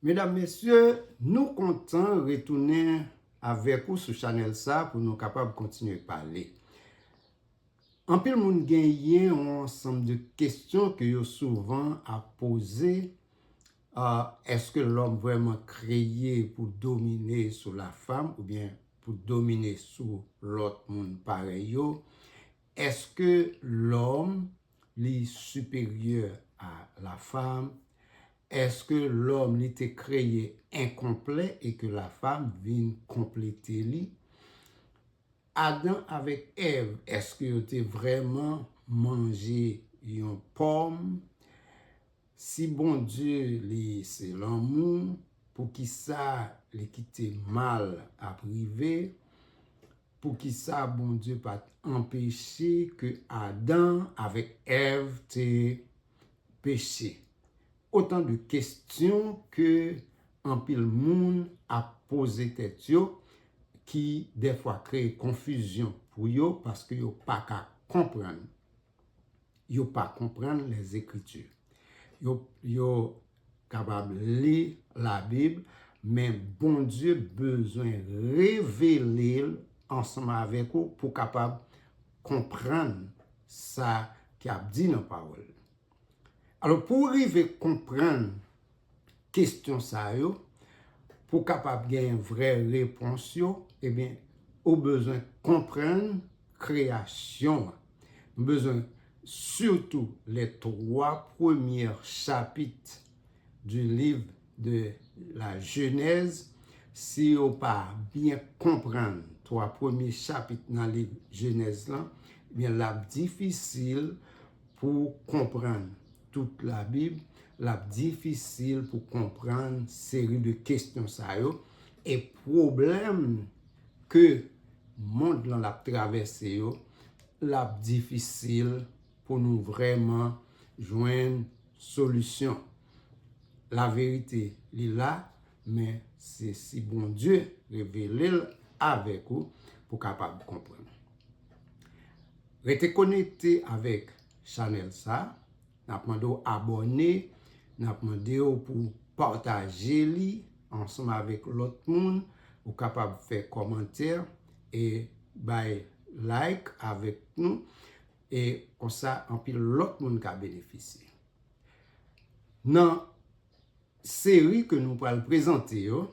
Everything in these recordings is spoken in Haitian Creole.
Medam mesye nou kontan retounen avèk ou sou chanèl sa pou nou kapab kontinye pale. Anpil moun genyen yon ansanm de kesyon ke yo souvan ap poze eske lòm vrèman kreye pou domine sou la fam oubyen pou domine sou lòt moun parèy yo? Eske lòm Li siperyè a la fam? Eske lòm li te kreye enkonplè e ke la fam vin konplete li? Adan avèk Èv eske yo te vrèman manje yon pòm? Si Bondye li se lanmou poukisa li kite mal ap rive, poukisa Bondye pat anpeche ke Adan avèk Èv te peche? Otan de kestyon ke anpil moun ap poze tèt yo ki dèfwa kreye konfizyon pou yo paske yo paka konprann. yo pa konprann lèzekritu. Yo kapab li labib men Bondye bezwen revele l ansanm avèk ou pou w kapab konprann sa ki ap di nan pawòl li. Alò pou w rive konprann kestyon sa yo, pou w kapab gen vrè repons yo, ebyen ou bezwen konprann kreyasyon an. Nou bezwen sitou lè 3 premyè chapit di liv de la jenèz, si ou pa byen konprann 3 premye chapit nan liv jenèz lan, ebyen l ap difisil pou w konprann tout la bib lap difisil pou konprann seri de kesyon sa yo e pwoblèm ke mond lan lap travèse yo lap difisil pou nou vrèman jwenn solisyon la verite li la men se si Bondye revele l avèk ou pou kapab konprann rete konekte avèk chanèl sa, nap mande w abòne, nap mande w pou w pataje li ansanm avèk lòt moun, ou kapab fè kòmantè e bay like avèk nou e konsa anpil lòt moun ka benefisye. Nan seri ke nou pral prezante yo,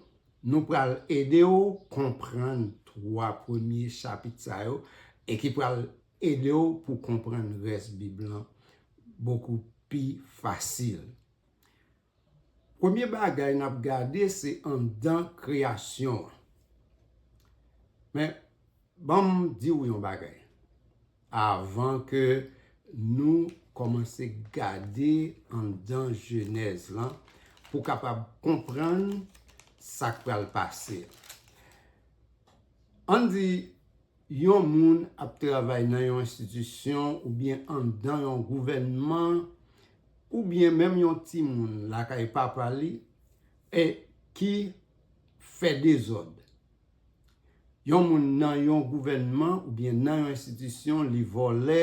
nou pral ede w konprann 3 premye chapit sa yo e ki pral Ede w pou w konprann rès Bib lan bokou pi fasil. Premye bagay n ap gade se anndan kreyasyon an. Men, ban m di w yon bagay avan ke nou kòmanse gade anndan Jenèz lan pou w kapab konprann sa k pral pase. Ann di Yon moun ap travay nan yon enstitisyon oubyen anndan yon gouvènman oubyen menm yon timoun lakay papa li e ki fè dezòd. Yon moun nan yon gouvènman oubyen nan yon enstitisyon li vòlè,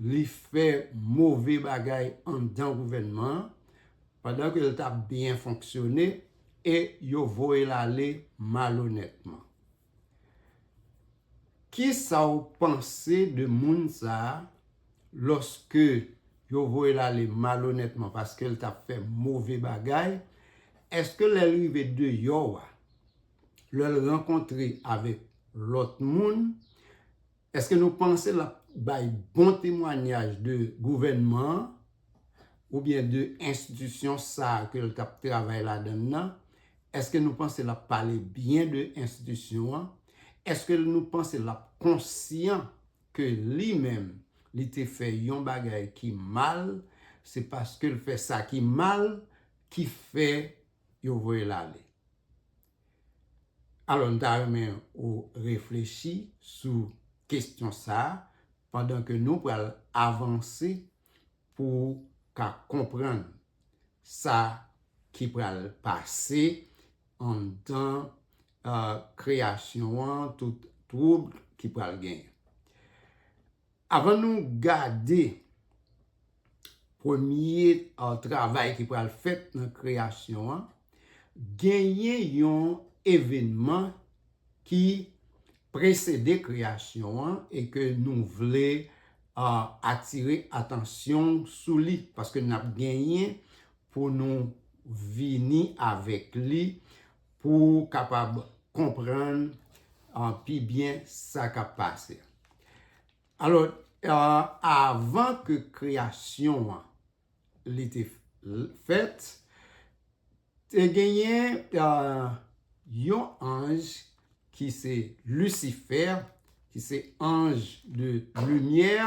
li fè move bagay anndan gouvènman an pandan ke l t ap byen fonksyone e yo voye l ale malonètman. Kisa w panse de moun sa a lòske yo voye l ale malonètman paske l t ap fè move bagay? Èske lè l rive deyò a, lè l rankontre avèk lòt moun, Eske nou panse lap bay bon temwanyaj de gouvènman an oubyen de enstitisyon sa a ke l tap travay ladan l nan? Eske nou panse lap pale byen de enstitisyon an? Eske nou panse lap konsyan ke li menm li te fè yon bagay ki mal, se paske l fè sa ki mal ki fè yo voye l ale? Alò m ta renmen ou reflechi sou kestyon sa a pandan ke nou pral avanse pou ou ka konprann sa ki pral pase anndan kreyasyon an, tout twoub ki pral genyen. Avan nou gade premye travay ki pral fèt nan kreyasyon an, genyen yon evenman ki presede kreyasyon an e ke nou vle atire atansyon w sou li, paske n ap genyen pou nou vini avèk li Pou ou kapab konprann pi byen sa k ap pase. Alò, avan ke kreyasyon an li te fèt, te genyen yon anj ki se Lisifè, ki se anj de limyè,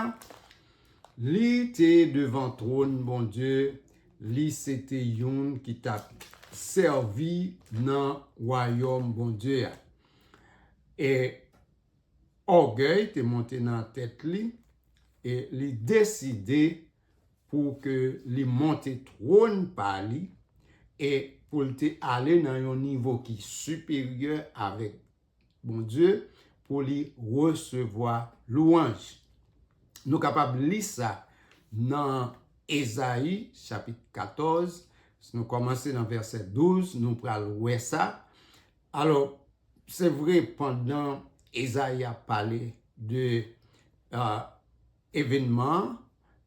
li te devan twòn Bondye, li se te youn ki t ap sèvi nan Wayòm Bondye a. E ògèy te monte nan tèt li e li deside. pou ke li monte twòn pa li e pou l te ale nan yon nivo ki siperyè avèk Bondye pou li resevwa lwanj. Nou kapab li sa nan Ezayi chapit 14, si nou kòmanse nan vèsè 12, nou pral wè sa. Alò, se vre pandan Ezayi ap pale de. Evenman an,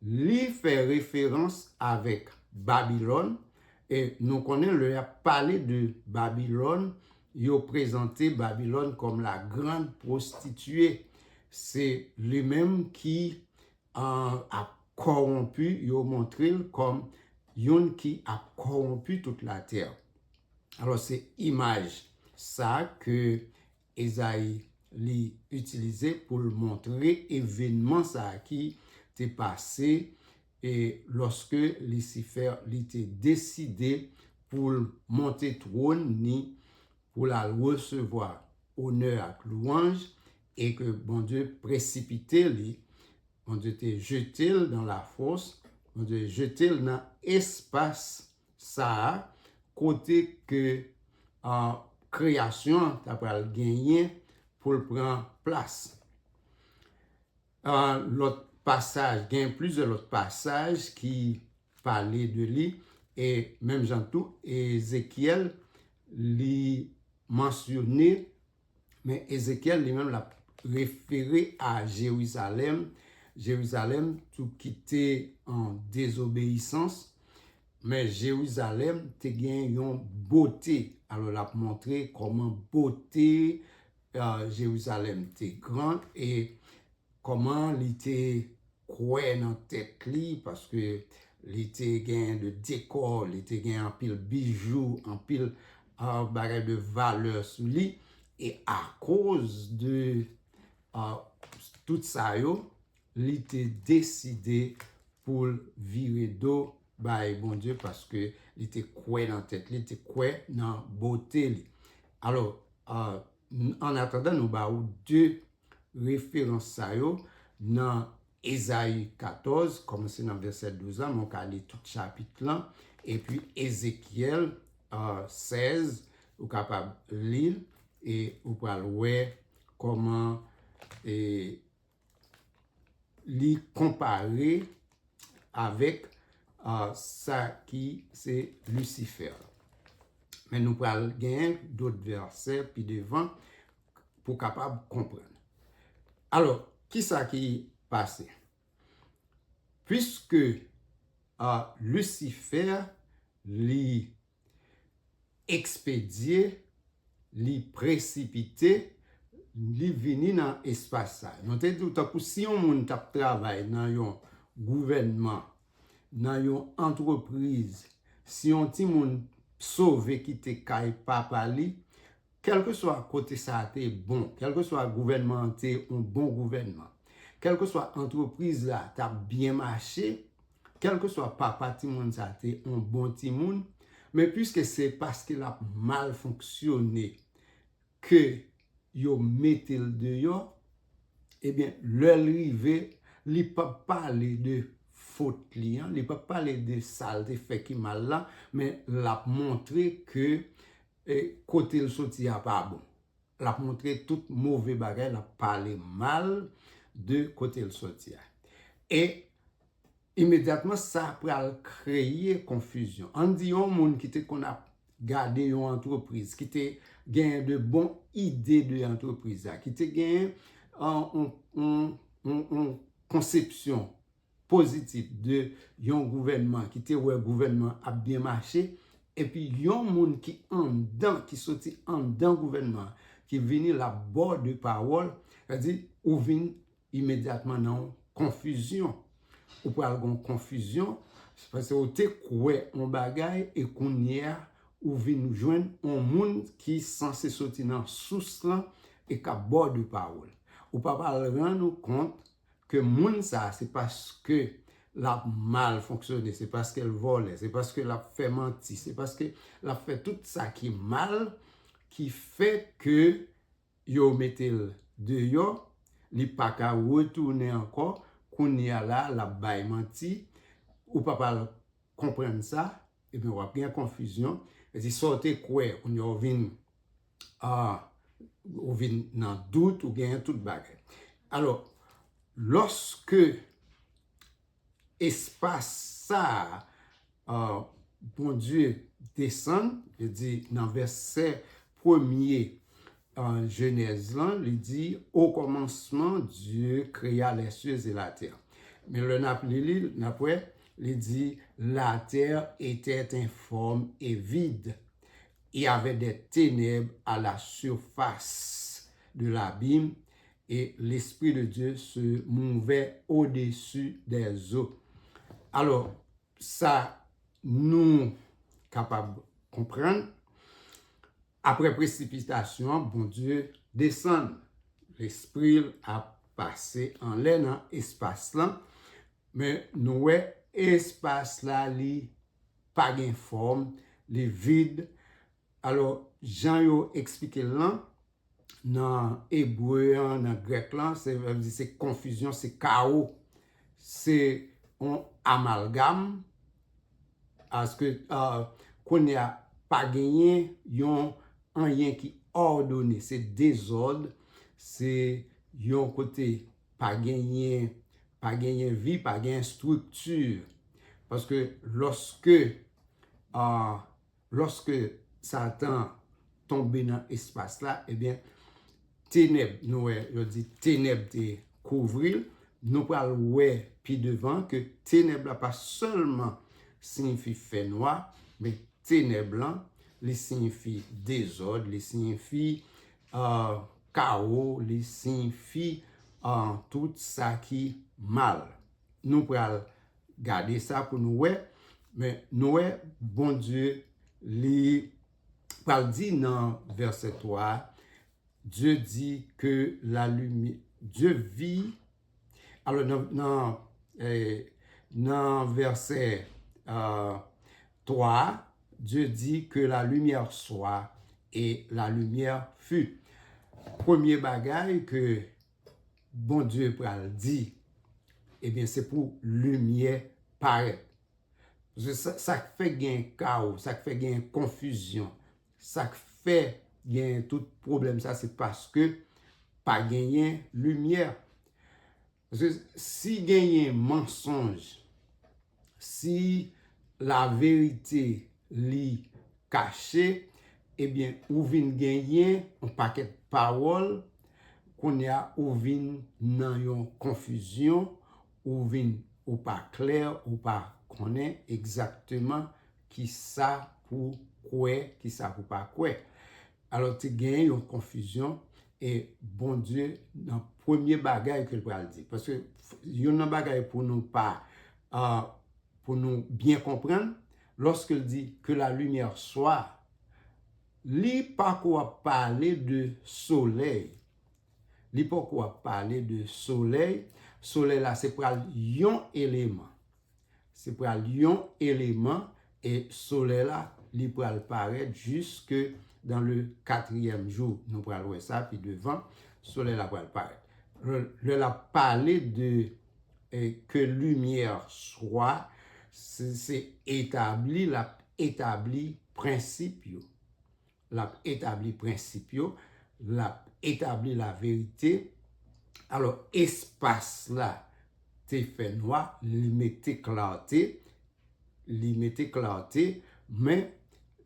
li fè referans avèk Babilòn, e nou konnen lè y ap pale de Babilòn, yo prezante Babilòn kòm la grande prostituée. Se li menm ki ap kòwonpi, yo montre l kòm youn ki ap kòwonpi tout latè. Alò, se imaj sa ke Ezayi li itilize pou l montre evenman sa a ki te pase lòske Lisifè li te deside pou l monte twòn ni pou l al resevwa onè ak lwanj e ke Bondye presipite li, Bondye te jete l dan lafòs, Bondye jete l nan espas Sa a, kote ke kreyasyon an ta pral genyen pou l pran plas. Lòt pasaj, gen plizyè lòt pasaj ki pale de li, e menm jan tou Ezekyèl li mansyone Men Ezekyèl li menm l ap refere a Jerizalèm, Jerizalèm tou ki te an dezobeyisans, men Jerizalèm te gen yon bote. Alò l ap montre kòman bote Jerizalèm te gran e Kòman li te kwè nan tèt li paske li te gen de dekò, li te gen anpil bijou, anpil bagay de valè sou li e akoz de tout sa yo, li te deside pou l vire do bay Bondye paske li te kwè nan tèt li, li te kwè nan bote li. Alò, An atandan nou ba ou 2 referans sa yo nan Ezayi 14, kòmanse nan vèsè 12 la, men w ka li tout chapit lan, epi Ezekyèl 16, ou kapab li l, e ou pral wè kòman e. li konpare avèk sa ki se lisifè. Men nou pral gen dot vèsè pi devan pou kapab konprann. Alò, ki sa ki pase? Piske lisifè li ekspedye, li presipite, li vini nan espas sa. Nou te di w tankou si yon moun t ap travay nan yon gouvènman, nan yon antrepriz, si yon timoun sove kite kay papa li, kèlkeswa kote sa te bon, kèlkeswa gouvènman an te yon bon gouvènman, kèlkeswa antrepriz la t ap byen mache, Kèlkeswa papa timoun sa a te yon bon timoun, men piske se paske l ap mal fonksyone ke yo mete l deyò, ebyen lè l rive, li p ap pale de fot li an, li p ap pale de sa l te fè ki mal la, men l ap montre ke kote l soti a pa bon. L ap montre tout move bagay, l ap pale mal de kote l soti a. E Imedyatman sa pral kreye konfizyon. Ann di yon moun ki te konn ap gade yon antrepriz, ki te genyen de bon ide de antrepriz la, ki te genyen yon konsepsyon pozitif de yon gouvènman, ki te wè gouvènman ap byen mache, epi yon moun ki anndan, ki soti anndan gouvènman, ki vini l ap ba w de pawòl, sa vle di ou vin Imedyatman nan yon konfizyon. Ou pral gen yon konfizyon, se paske ou te kwè yon bagay e kounye a ou vin jwenn yon moun ki sanse soti nan sous lan e k ap ba w de pawòl. Ou pa pral rann ou kont ke moun sa a se paske l ap mal fonksyone, se paske l vòlè, se paske l ap fè manti, se paske l ap fè tout sa ki mal ki fè ke yo metel deyò li paka retounen ankò kounya la lap bay manti ou pap al konprann sa ebyen wap gen konfizyon edi saw te kwè kounya ou vin ahh ou vin nan dout ou gen tout bagay alò loske espas sa a, Bondye desann, li di nan vèsè premye Jenèz lan, li di, Okòmansman, Dye kreya lèsye e latè. Men lè n ap li li, n ap wè, li di, Latè etèt enfòm e vid, e avè dè tenèb a la sifas de labim, E lespri de Dye se mouve odesu dè zo. Alò, sa nou kapab konprann, apre presipitasyon an, Bondye desann. Lespri l ap pase anlè nan espas lan, men nou wè espas la li pa gen fòm, li vid. Alò, jan yo eksplike l lan, nan ebre an, nan grèk lan, se vle di se konfizyon, se kawo. Se yon amalgam, paske kounye a pa genyen yon anyen ki òdone, se dezòd, se yon kote pa genyen, pa genyen vi, pa genyen estrikti. Paske lòske a... Lòske Satan tonbe nan espas la, ebyen, tenèb, nou wè, yo di tenèb te kouvri l. Nou pral wè pi devan ke tenèb la pa sèlman siyifi fènwa, men tenèb lan, li siyifi dezòd, li siyifi kawo, li siyifi tout sa ki mal. Nou pral gade sa pou nou wè men nou wè Bondye li pral di nan vèsè 3 a Dye di ke la limi Dye vi alò nan nan vèsè 3 a Dye di ke la limyè swa e la limyè fut premye bagay ke Bondye pral di, ebyen se pou limyè parèt. Sa k fè gen kawo, sa k fè gen konfizyon, sa k fè gen tout pwoblèm sa, se paske pa genyen limyè. Si genyen mansonj, Si la verite li kache, ebyen ou vin genyen yon pakèt pawòl, kounye a ou vin nan yon konfizyon, ou vin ou pa klè, ou pa konnen egzakteman kisa pou kwè, kisa pou pa kwè. Alò te gen yon konfizyon e Bondye nan premye bagay ke l pral di, paske youn nan bagay pou nou pa, pou nou byen konprann, lòske l di, Que la lumière soit, li pako ap pale de solèy, li poko ap pale de solèy, solèy la se pral yon eleman. Se pral yon eleman e solèy la li pral parèt jiske dan le katriyèm jou nou pral wè sa pi devan solèy la pral parèt lè l ap pale de ke limyè swa se etabli l ap etabli prensip yo L ap etabli prensip yo. L ap etabli laverite. Alò, espas la te fè nwa, li mete klarte, li mete klarte, men,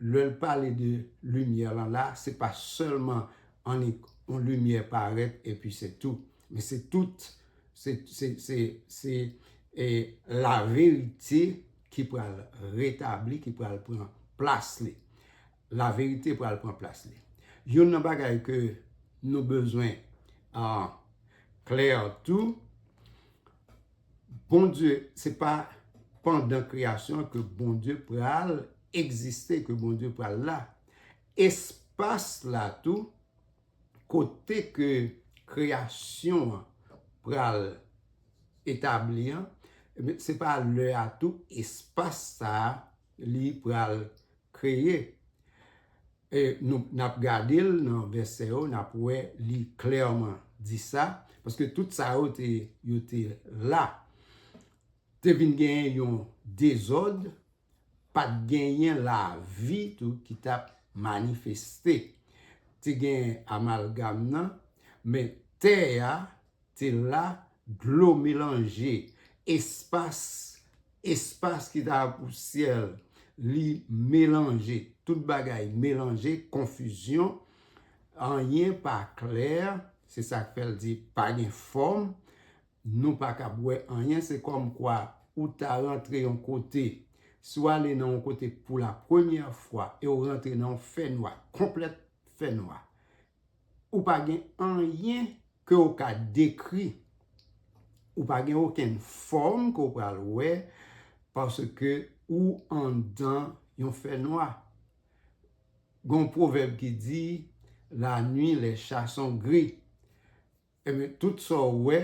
lè l pale de limyè lan la, se pa sèlman annik yon limyè parèt epi se tou. Men se tout, se, se, se, se e laverite ki pral retabli, ki pral pran plas li. La verite pral pran plas li. Youn nan bagay ke nou bezwen klè tou, Bondye, se pa pandan kreyasyon an ke Bondye pral egziste, ke Bondye pral la. Espas la tou, kote ke kreyasyon an pral etabli an, se pa lè a tou espas sa a li pral Kreye. E nou, n ap gade l nan vèsè yo, n ap wè li klèman di sa, paske tout sa yo te, yo te la. Te vin genyen yon dezòd, pa t genyen lavi tou ki t ap manifeste. Te gen amalgam nan, men tè a, Te la, dlo melanje, espas, espas ki ta pou syèl, li melanje, tout bagay melanje, konfizyon, anyen pa klè, se sa k fè l di pa gen fòm, nou pa kab wè anyen, se kòm kwa ou ta rantre yon kote, si w ale nan yon kote pou la premyè fwa e w rantre nan yon fènwa, konplèt fènwa, Ou pa gen anyen ke w ka dekri. Ou pa gen okenn fòm ke w pral wè paske ou anndan yon fènwa. Gen yon pwovèb ki di, la nwi les chats sont gris. Ebyen tout sa w wè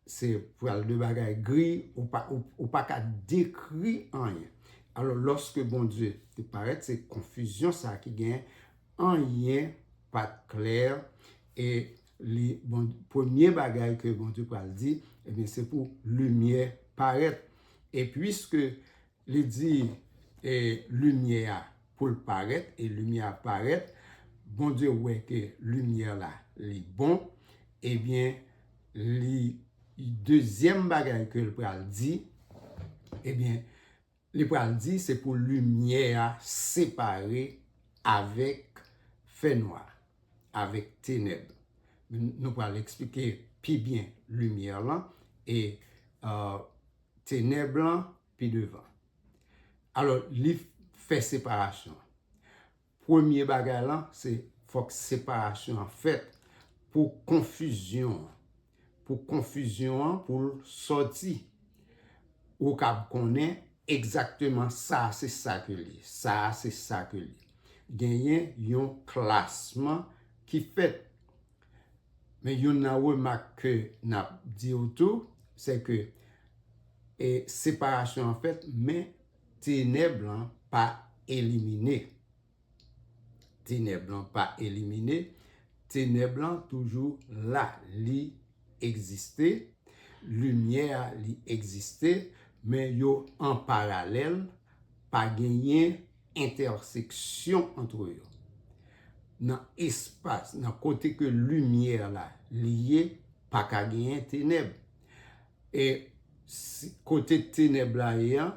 se pral de bagay gri ou pa ka dekri anyen. Alò lòske Bondye te parèt se konfizyon sa ki gen anyen pa t klè e li premye bagay ke Bondye pral di ebyen se pou limyè parèt e puiske Li di e limyè a pou l parèt e limyè a parèt, Bondye wè ke limyè la li bon, ebyen li dezyèm bagay ke l pral di, ebyen li pral di se pou limyè a separe avèk fènwa, avèk tenèb. Nou pral eksplike pi byen limyè lan e Tenèb lan pi devan. Alò, li fè separasyon. Premye bagay lan, se fòk separasyon an fèt pou konfizyon an. Pou konfizyon an pou l sòti. Ou kab konnen egzakteman sa a se sa ke li ye, sa a se sa ke li ye. Genyen yon klasman ki fèt Men youn nan remak ke n ap di ou tou, se ke e separasyon an fèt men tenèb lan pa elimine. Tenèb lan pa elimine, tenèb lan toujou la, li egziste, limyè a li egziste, men yo an paralèl, pa genyen entèseksyon antre yo, nan espas, nan kote ke limyè la li ye, pa ka genyen tenèb. E kote tenèb la ye an,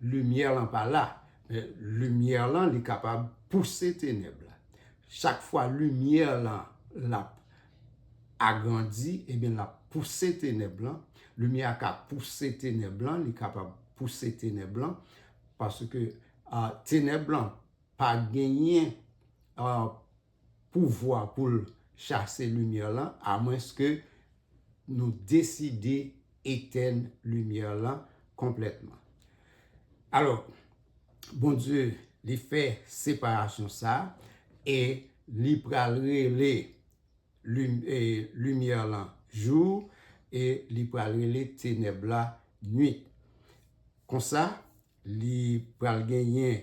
limyè lan pa la. Limyè lan li kapab pouse tenèb la. Chak fwa limyè lan l ap agrandi, ebyen l ap pouse tenèb lan. Limyè a ka pouse tenèb lan, li kapab pouse tenèb lan. Paske tenèb lan pa genyen pouvwa pou l chase limyè lan amwenske nou deside etenn limyè lan konplètman. Alò, Bondye li fè separasyon sa a e li pral rele Limyè lan jou, e li pral rele tenèb la nuit. Konsa, li pral genyen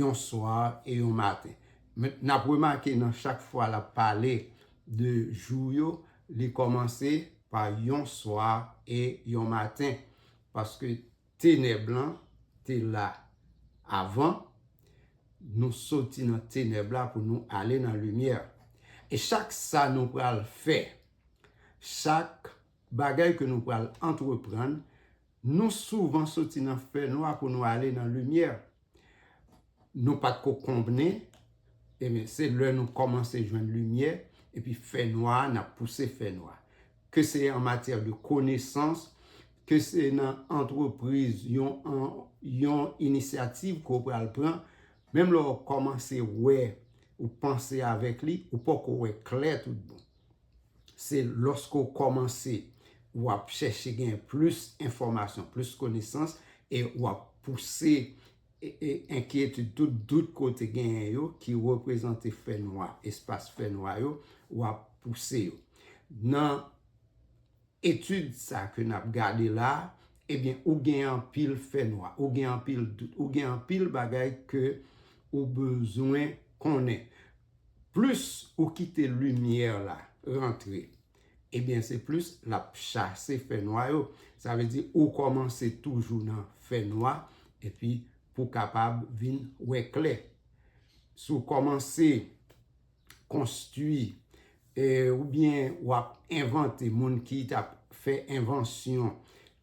yon swa e yon maten. N ap remake nan chak fwa l ap pale de jou yo, li kòmanse pa yon swa e yon maten. Paske. Tenèb lan te la avan. Nou soti nan tenèb la pou nou ale nan limyè. E chak sa nou pral fè, chak bagay ke nou pral antreprann, nou souvan soti nan fènwa pou nou ale nan limyè. nou pat ko konbnen ebyen se lè nou kòmanse jwenn limyè epi fè nwa a nap pouse fè nwa ke se an matyè de konesans ke se nan antrepriz yon inisyativ ke w pral pran menm lè w kòmanse wè ou panse avèk li ou poko wè klè tout bon. Se lòske ou kòmanse, ou ap chèche gen plis enfòmasyon, plis konesans, e ou ap pouse enkyetid, tout dout ke w te genyen yo, ki reprezante fè nwa, espas fè nwa yo, ou ap pouse yo. Nan etid sa ke n ap gade la a, ebyen ou gen anpil fè nwa, ou gen anpil dout, ou gen anpil bagay ke ou bezwen konnen. Plis ou kite limyè la rantre, ebyen se plis lap chase fènwa yo, sa vle di ou kòmanse toujou nan fènwa epi pou kapab vin wè klè. Si w kòmanse konstwi Ou byen wap envante moun ki tap fè envansyon,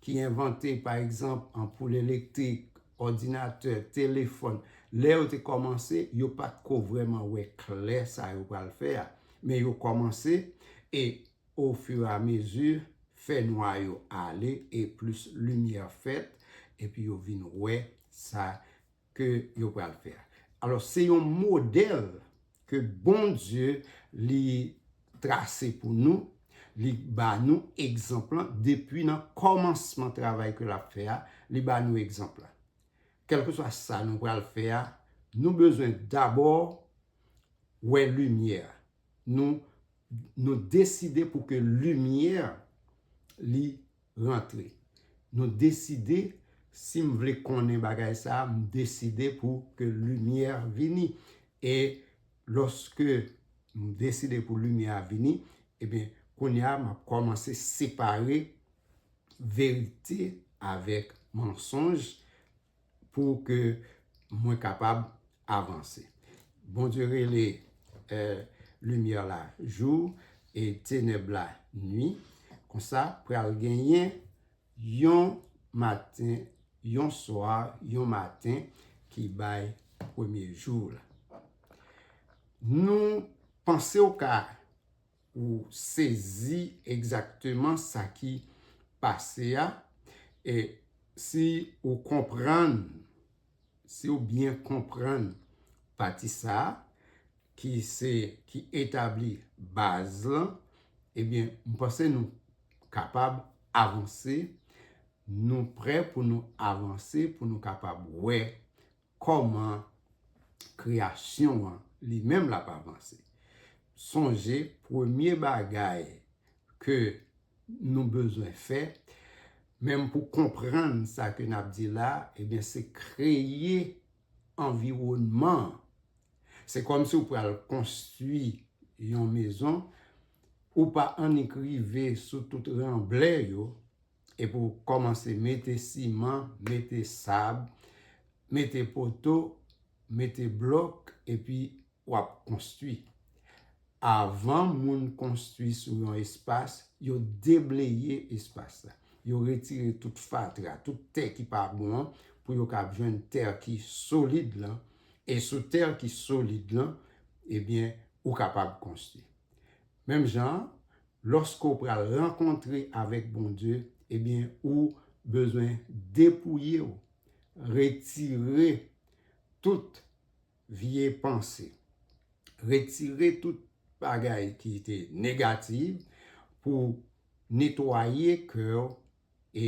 ki envante pa egzanp anpoul elektrik, òdinatè, telefòn, lè yo te kòmanse yo pat ko vrèman wè klè sa yo pral fè a, men yo kòmanse e ofiramezi fè nwa yo ale e plis limyè fèt epi yo vin wè sa ke yo pral fè a. Alos se yon model ke Bondye li trase pou nou, li ba nou egzanp lan depi nan komansman travay ke lap fè a, li ba nou egzanp la. Kelkeswa sa nou pral fè a, nou bezwen dabo wè limye a. Nou deside pou ke limye li rantre. Nou deside si m vle konnen bagay sa a, m deside pou ke limyè vini. E lòske m deside pou limyè a vini, ebyen kounye a m ap kòmanse separe verite avèk mansonj. pou ke mwen kapab avanse. Bondye rele limyè la jou e tenèb la nwi. Konsa pral genyen yon maten, yon swa, yon maten ki bay premye jou la. Nou panse ou ka. Ou sezi egzakteman sa ki pase a, e si ou konprann, si ou byen konprann pati sa ki se, ki etabli baz lan, ebyen m panse nou kapab avanse, nou prè pou nou avanse pou nou kapab wè Kòman kreyasyon an li menm l ap avanse? Sonje premye bagay ke nou bezwen fè, menm pou konprann sa ke n ap di la, ebyen se kreye anviwònman an. Se kòmsi ou pral konstwi yon mezon, ou pa annik rive sou tout ranblè yo, e pou kòmanse mete siman, mete sab, mete poto, mete blòk epi w ap konstwi. Avan moun konstwi sou yon espas, yo debleye espas la. Yo retire tout fatra, tout tè ki pa bon an pou yo kab jwenn tè ki solid lan. E sou tè ki solid lan, ebyen ou kapab konstwi. Menm jan an, Loske w pral rankontre avèk Bondye, ebyen ou bezwen depouye w, retire tout vye panse, retire tout bagay ki te negatif pou netwaye kè w e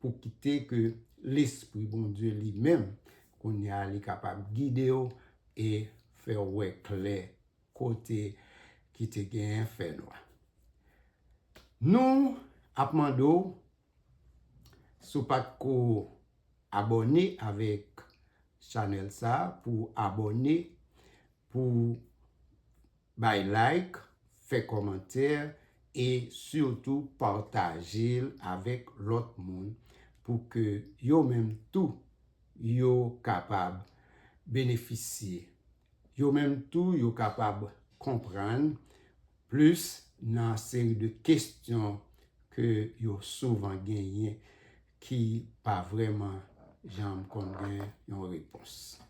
pou kite ke Lespri Bondye li menm, kounye a li kapab gide w e fè w wè klè kote ki te genyen fè nwa. Nou ap mande w si w pat ko abòne avèk chanèl sa pou w abòne, pou w bay like, fè kòmantè e sitou pataje l avèk lòt moun pou ke yo menm tou yo kapab benefisye Yo menm tou yo kapab konprann plis nan seri de kestyon ke yo souvan genyen ki pa vreman janm konn gen yon repons.